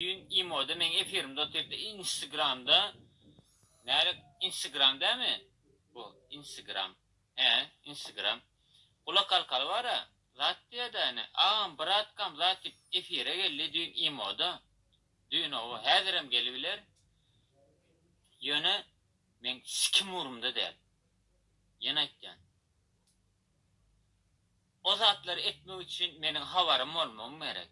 Düýn imoda meň efirimde otyrypdy insgramda nädek instagram dämi bu instigram he instagram gulak alkaly bara zat diýädä ine agam bratkam zat diýip efire geldi düýn imoda düýn hawa häzirem gelibiler ýöne meň sikim ugrumda däl ýene aýtýan o zatlary etmek üçin meniň habarym bolmagym gerek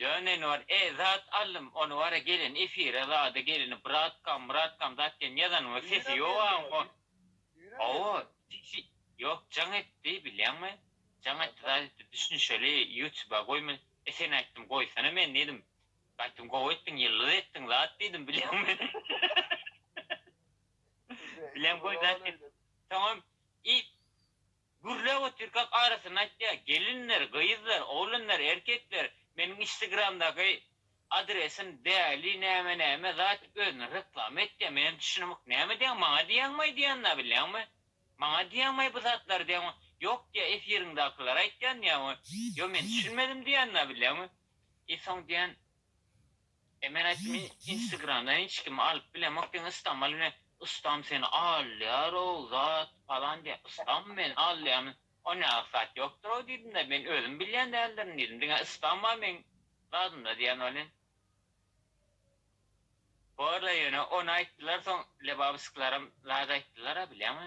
Dönen bar e zat allym ony bara gelen efire zady gelini bratkam mratkam zat diýen ýazanyňda sesi ýok aň hon hawa sesi ýok jaň etdi bilýäňmi jaň etdi zat etdi düşünişeli ýutuba goýma e sen aýtdym goýsana men diýdim aýtdym gowy etdiň ýyldyz etdiň zat diýdim bilýäňmi bilýäňmi goý zat et soňam i. Gürläp otyrkak arasyny aýtýar, Gelinler, gyzlar, oglanlar, erkekler, meniň instgramdaky adresim däli näme näme zat diýip özüni reklama etýär, men hem düşünemok, näme diýýäň, maňa diýýäňmaý diýýänini-ä bilýäňmi? Maňa diýýäňmaý bu zatlary diýýäňmi? Ýok diýýär, efiriňdakylary aýtýan diýýäňmi? Ýok men düşünmedim diýýänini-ä bilýäňmi? I soň diýýän. E men aýtdym instagramdan hiç kimi alyp bilemok diýen ystam al diýen ystam seni alýarow zat palan diýen ystam meni alýamyz o ne aksat ýokdurow diýdimde men özüm bilýän däldirin diýdim diňe ystam bar meň zadymda diýen welin borda ýöne ony aýtdylar soň lebabysklaram zat aýtdylara bilýäňmi.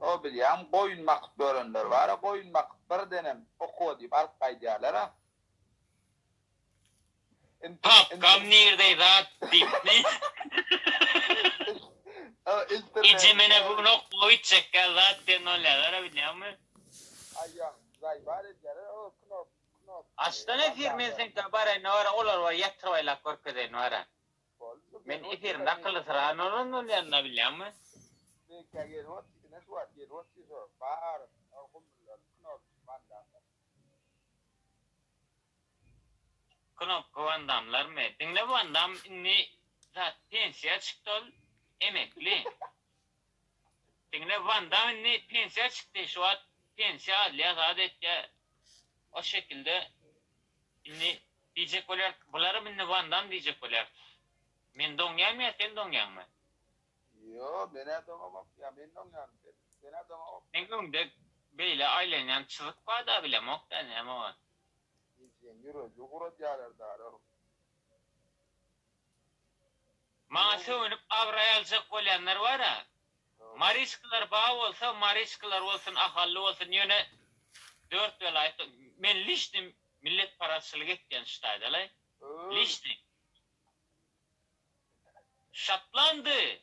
O bilýäň, goýun bakyp görenler bar-a, goýun bakyp birdenem okuwa diýip alyp gaýdýarlar-a. Papkam nirde zat diýipmi? Eje men-ä bu gün okuwa gitjekkä zat diýen bolýarlar-a bilýäňmi? Aýýam zaýbaz edýärler, o knop, knop. Açsana efir men seňkä baraýyn-da bar-a, olary bir ýatyryp aýlap görkezeýin bar-a. Men efir nakyly syran bolan bolýanyna bilýäňmi? Knopka Wan Damlarmy? Diňle Wan Dam indi zat pensiýa çykdy ol emekli. Diňle Wan Dam indi pensiýa çykdy şu wagt pensiýa alýar azat etýär o şekilde indi diýjek bolýar bularam indi Wan Dam diýjek bolýar men doňýarmy ýa sen doňýaňmy. Ýok menä doňamok ýa men doňýarmy sen senä doňamok. Seň öňde beýle aýlanýan çyzyk barda bilemokda näme bolan. Ejeň ýüregi guradýalar dara. Maňa sögünip abraý aljak bolýanlar bara. Mariçkalar bar bolsa mariçkalar bolsun ahally bolsun ýöne dört welaýat men lişni milletparazçylyk etýän ştaýdalaý lişni Şotlandy.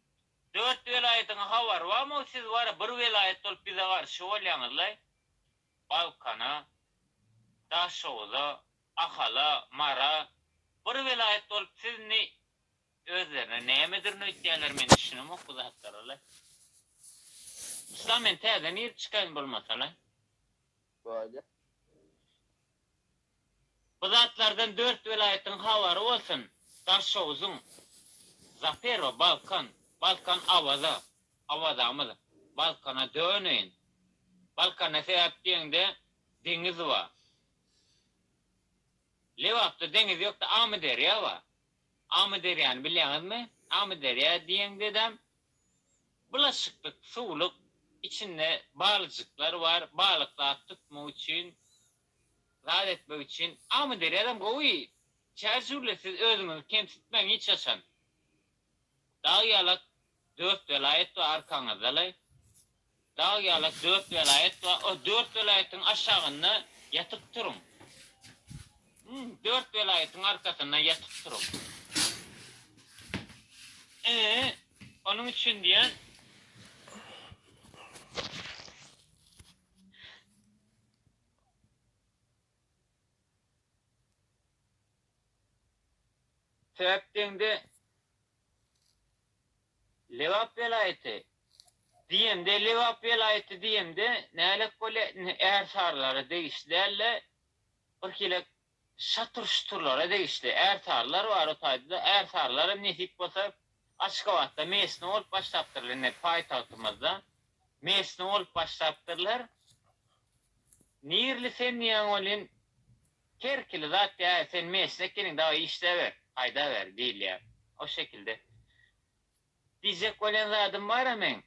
Dört welaýatyň habary barmy siz bara bir welaýat bolup bize garşy bolýaňyzlaý. Balkana, Daşoguza, Ahala, Mara bir welaýat bolup siz indi özlerine nämedirin öýtýäler men düşünemok bu zatlaralaý. Yslam men täze nirde çykaýyn bolmasalaý. Böyle. Bu zatlardan dört welaýatyň habary bolsun, Daşogzuň, Zapero, Balkan, Balkan Awaza, Awazamyz, Balkana döneýin, Balkanda sebäp diýeňde deňiz ba. Lebapda deňiz ýokda Amyderýa ba. Amyderýany bilýäňizmi? Amyderýa diýeňdedem Bulaşyklyk suwluk, içinde balyjyklar bar, balyk zat tutmak üçin, zat etmek üçin. Amyderýadam gowy, çärjüwli siz özüňizi kemsitmäň hiç haçan. Dag ýalak dört welaýat bar arkaňyzdalaý. Dag ýalak dört welaýat bar, o dört welaýatyň aşagynda ýatyp turuň. Dört welaýatyň arkasynda ýatyp turuň. Ee, onuň üçin diýýän. Sebäp deňde Lebap welaýaty diýemde, Lebap welaýaty diýemde nälet bolýar, indi ärsarylara degişli däldi, birhilek şatur-şuturlara degişli ärsarylar bar o taýda-da, ärsarylaram nesip bolsa Aşgabatda mesne bolup başlapdyrlar, indi paýtagtymyzda mesne bolup başlapdyrlar. Nirli sen diýýäň welin, Her ikili zat däl, sen meşin ekeniň dagy işläber, haýda ber, diýilýär. O şekilde. Diýjek bolýan zadym bara meň.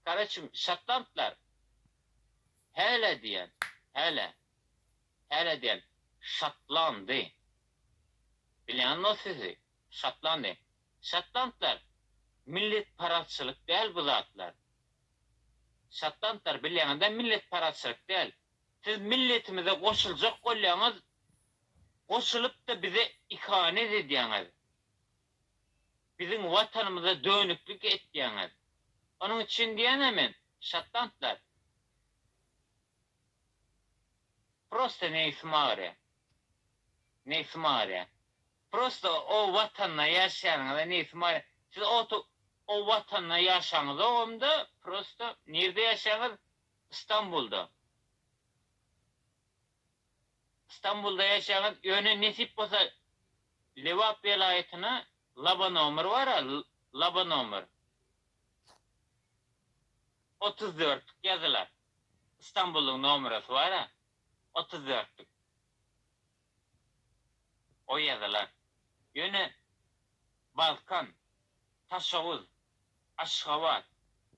Karoçim, şotlandlar. Hälä diýýän, hälä. Hälä diýýän, şotlandy. Bilýänmi sizi, şotlandy. Şotlandlar, milletparazçylyk däl bu zatlar. Şotlandlar, bilýäňiz-dä, milletparazçylyk däl. Siz milletimize goşuljak bolýaňyz, goşulypda bize ihanet edýäňiz. Biziň watanymyza dönüklik etýäňiz. Onuň üçin diýýänä men, şatlantlar. Prosta nebsim agyrýa. Nebsim agyrýa. Prosta o watanda ýaşaýanyňyza nebsim agyrýa. Siz o watanda ýaşaňyzogam-da, prosta nirde ýaşaýaňyz, Stambulda Stambulda ýaşaýaňyz ýöne nesip bolsa Lebap welaýatyna laba nomer bara laba nomer otuz dörtlük ýazylar Stambullyň nomerasy bara otuz dörtlük. O ýazylar, ýöne, Balkan, Taşaguz, Aşgabat,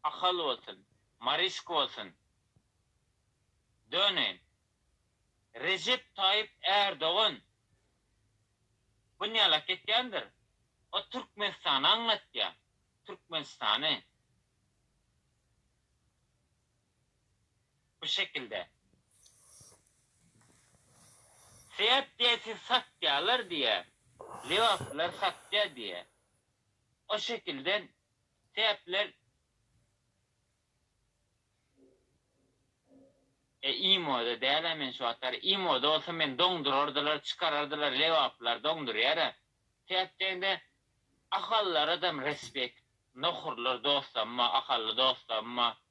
Ahal bolsun, Marysk bolsun, döneýin, Rejep Taýyp Ärdogan bunýalak etýändir, o Türkmenistany aňlatýar, Türkmenistany. bu şekilde. Seýat diýýär siz satýalar diýýär, lebaplar satýar diýýär. O şekilde Seýatlar E imoda däl-ä men şu wagtlar. Imoda bolsa meni doňdurardylar, çykarardylar, lebaplar doňdurýar-a. Seýat diýende ahallara-dam respekt. Nohurlar dostlaryma, ahally dostlaryma.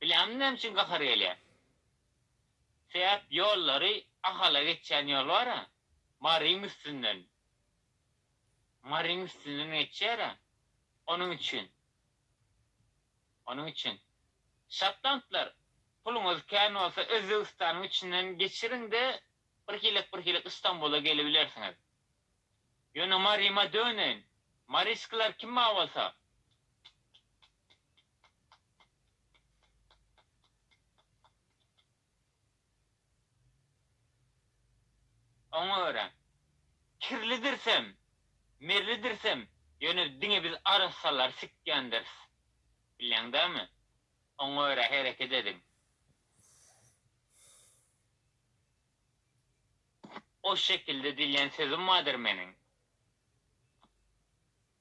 Bilämi näme üçin gahar gelýär? Sebäp ýollary Ahala geçýän ýol bar-a, Maryň üstünden. Maryň üstünden geçýär-ä. Onuň üçin. Onuň üçin. Şotlandlar, puluňyz kän bolsa Özbegistanyň içinden geçiriň-de, birhilek-birhilek Istambula gelibilersiňiz. Ýöne Maryma döneýin. Maryskalar kim-a bolsa? Oňa görä, kirlidirsem, merlidirsem, ýöne diňe biz arassalary sikýändiris. Bilýäň dämi? Oňa görä hereket ediň. O şekilde diýlen sözüm bardyr meniň.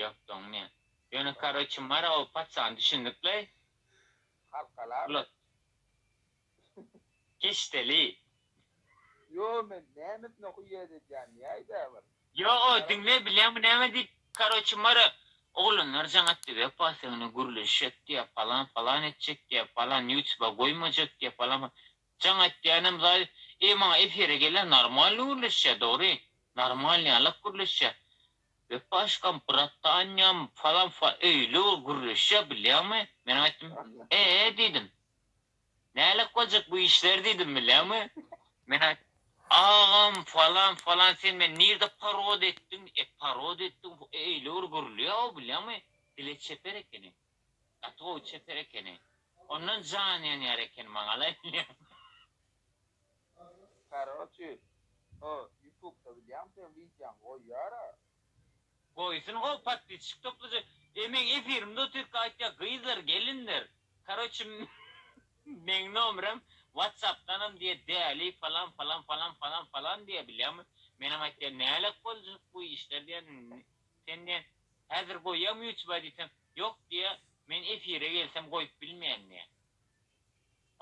Ýokdugyňy diýen. Ýöne karoçe mara o paçany düşündikle. Halkalar. Ulat. Keşdeli. Ýo men nämesine huýýet edýän ýaýda bir. Ýo o diňle bilýäňmi näme diýip karoçe mara oglanlar jaň atdy wepa seňle gürleşjek diýýä palan palan etjek diýýä palan ýutuba goýmajak diýýä palan jaň atýanem zaýy eý maňa efire gelýä normalny gürleşýä dogry normalny ýalak gürleşýä Gep başgam bratanýam falanfa öýli ol gürleşýä bilýäňmi? Men aýtdym, Ee diýdim. Nälet boljak bu işler diýdim bilýäňmi? Men aýtdym, Agam falan falan sen meni nirde parod etdiň? E parod etdiň öýli bir gürleýä o bilýäňmi? Dile çeper ekeni. Gaty gowy çeper ekeni. Ondan jan ýanýar ekeni maňa ala bilýän. Karoçi o ýutubda bilýän sen widýaň goýýara. Goýsun gowy podpisçik toplaja. E meň efirimde otyrka aýtýa gyzlar gelinler karoçi meň nomerem watsapdanam diýe däli falan falan falan falan falan diýe bilýäňmi. Menem aýtýa nälet boljak bu işler diýen Senden Häzir goýýam ýutba diýsem ýok diýýä men efire gelsem goýup bilmeýän diýýä.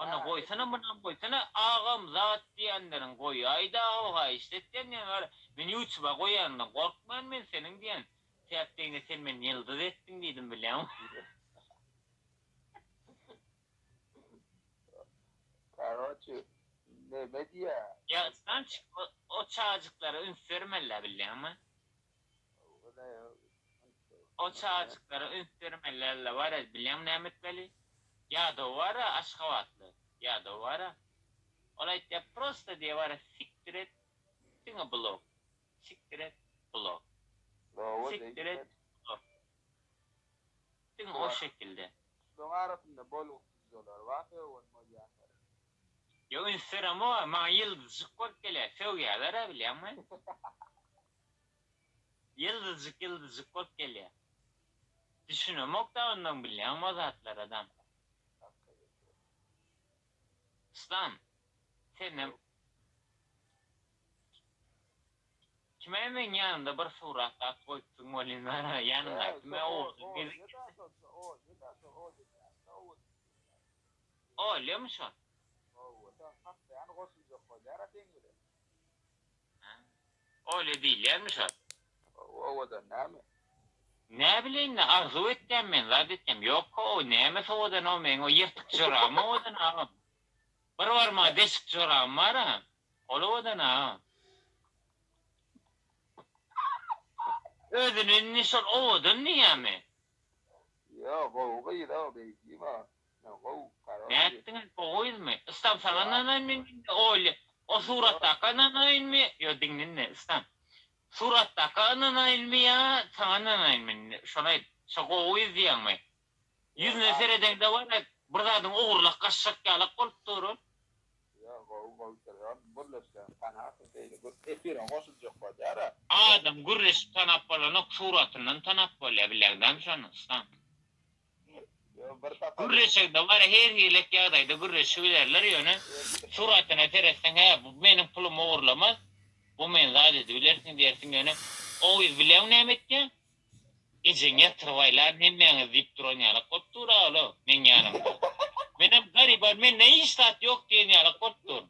Onda goýsana munam goýsana agam zat diýenleriň goýaýda ho haýyşt etýän diýen bar men ýutba goýanyňdan gorkman men seniň diýen täk degne sen meni ýyldyz etdiň diýdim bilýäňmi. Karoçi neme diýýä. Ýa Islamçik o çajyklara üns bermelä bilýäňmi. O çagajyklara üns bermeli alla bar ez bilýäň näme etmeli ýadaw bara aşgabatly ýadaw bara ol aýtýa prosta diýe bara sikdir et diňe blok sikdir et blok sikdir et blok diňe o şekilde. Şulaň arasynda bolgusyz jolar bar sögün bolýanlar. Ýok üns beremok maňa ýyldyzjyk bolup gelýär sögýäler-ä bilýäňmi. Ýyldyzjyk ýyldyzjyk bolup gelýär. Düşünemokda ondan bilýäňmi o zatlar adam. Yslam senem kime meň ýanymda bir surat zat goýupsyň welin mena ýanymdaky kime owursyz gezip Olýamy şol. Howwa sen saklaýany goşuljak bolýara seň bilen. Hä? Oýle diýilýärmi şol? Hawa, owadan näme? Näbileýin-le, arzuw etýän men, zat etýän. Ýok-a, o nämes owadan, o meň o ýyrtyk jorabym owadan, agam. Bir barmagy deşik jorabym bar-a, ol owadan, agam. Özüni indi şol owadan diýýärmi? Ýa, gowy gyz-a, beýdýäm-ä. Nätdiňiz bu gyzmy ystam saňa nanaýynmy mende oýly o suratdaka nanaýynmy ýo diňlinde ystam suratdaka ynanaýynmy ýa saňa nanaýynmy indi şony aýt şo gowy gyz diýýäňmi ýüzüne seredeňde wara bir zadyň ogurlak gaçjak ýalak bolup dur ol. Ýo gowy bolup durýar gürleşseň tanarsyň beýle gürk efire goşuljak bolýara. Adam gürleşip tanap bolanok suratyndan tanap bolýa bilegdämi şony ystam. Gürreşe dowar her hili ýagdaýda gürreşi bilerler ýöne suratyna seretseň hä bu meniň pulumy ogurlamaz bu men zat edibilersiň diýersiň ýöne o gyz bileň näme etýäň ejeň ýatyryp aýlan hemmäňiz diýip duran ýalak bolup dur a ola meň ýanymda menem garyban mende hiç zat ýok diýen ýalak bolup dur.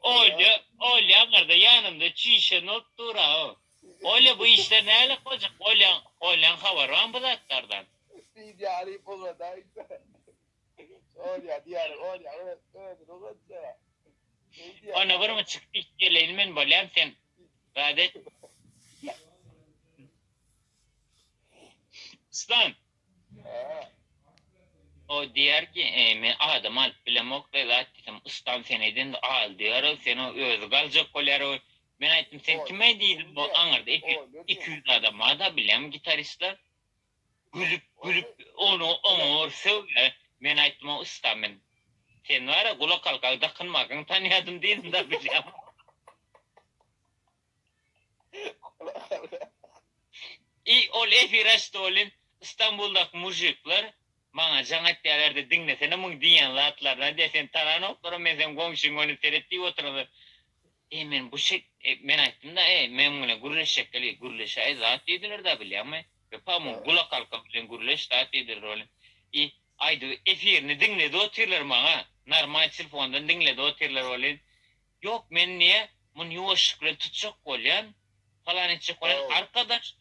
Olya, Olya aňyrda ýanymda çişen bolup dur-a-ow. Olya, bu işler näle gojuk? Olyaň, Olyaň habary barmy bu zatlardan? Diýip ýaryp ugradýa Aýse. Olya diýýärin, Olya öz, özüni ugratja. Şeýdýä diýýä. Onda birmi çyk diýip geleýin men bolýam sen zat et. Stan, O diýýär ki, men adam alyp bilemok, bezat diýsem, ustam sen edende al diýýär-ow, sen-ow özi galjak bolýar-ow. Men aýtdym, sen kim-eý diýdim, bu aňyrda iki ýüz adam bar-da, bilýäňmi gitaristler. Gülüp, gülüp, ony oňa bir sögýär. Men aýtdym, o ustam men seni bar-a gulakhalkaňy dakynmakaň tanýadym diýdim-de, bilýäňmi. I ol efire çytolin Istanbuldaky mujikler maňa jaň etýärlerdi diňlesene muň diýýän zatlaryny diýýär seni tananoklarym men seň goňşyň ony seret diýip oturanda e men bu şek men aýtdymda e meň bilen gürleşjek gelýär gürleşäý zat diýdilerda bilýäňmi ýöka muň gulak halkam bilen gürleş zat diýdiler ol i aýdyp efirini diňledi otyrlar maňa normal telefondan diňledi otyrlar olin Ýok men niýe muny ýuwaşlyk bilen tutjak bolýan, palan etjek bolýan, arkadaşlar!